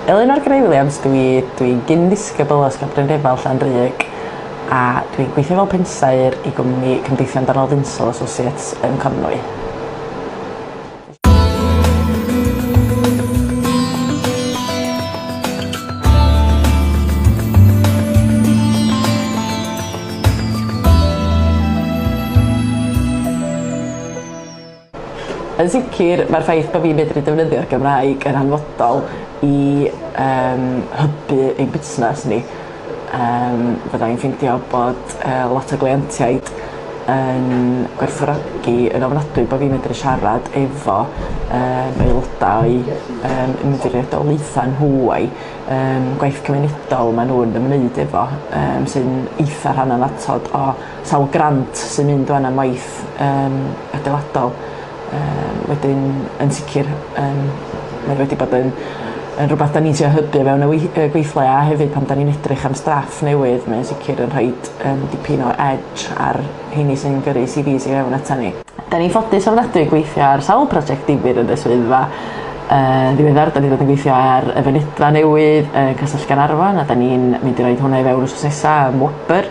Eleanor Gray Williams, dwi'n dwi, dwi gyn ddisgybl o Ysgol Brynrefel Llanrug a dwi'n gweithio fel pensaer i gwmni Cymdeithion Darnol Ddinsol Associates yn Conwy. Yn sicr, mae'r ffaith bod fi'n medru defnyddio'r Gymraeg yn hanfodol i um, hybu ein busnes ni. Yym fydda i'n ffeindio bod yy lot o gleientiaid yn gwerthfawrogi yn ofnadwy bo' fi'n medru siarad efo yym aelodau yym yn mynd i reolaethau nhw a'u yym gwaith cymunedol ma' nhw'n ymwneud efo yym sy'n eitha rhan annatod o sawl grant sy'n mynd ŵan am waith yym adeiladol. Yy wedyn yn sicr yym mae wedi bod yn yn rwbath 'dan ni'n trio hybu o fewn y wei- yy gweithle a hefyd pan 'dan ni'n edrych am staff newydd mae o'n sicr yn rhoid yym dipyn o edge ar rheini sy'n gyrru CVs i fewn atan ni. 'Dan ni'n ffodus ofnadwy gweithio ar sawl project difyr yn y swyddfa. Yn ddiweddar 'dan ni 'di bod yn gweithio ar y fynedfa newydd yn Castell Gaernarfon a 'dan ni'n mynd i roid hwnna i fewn wsnos nesa ym Wobr.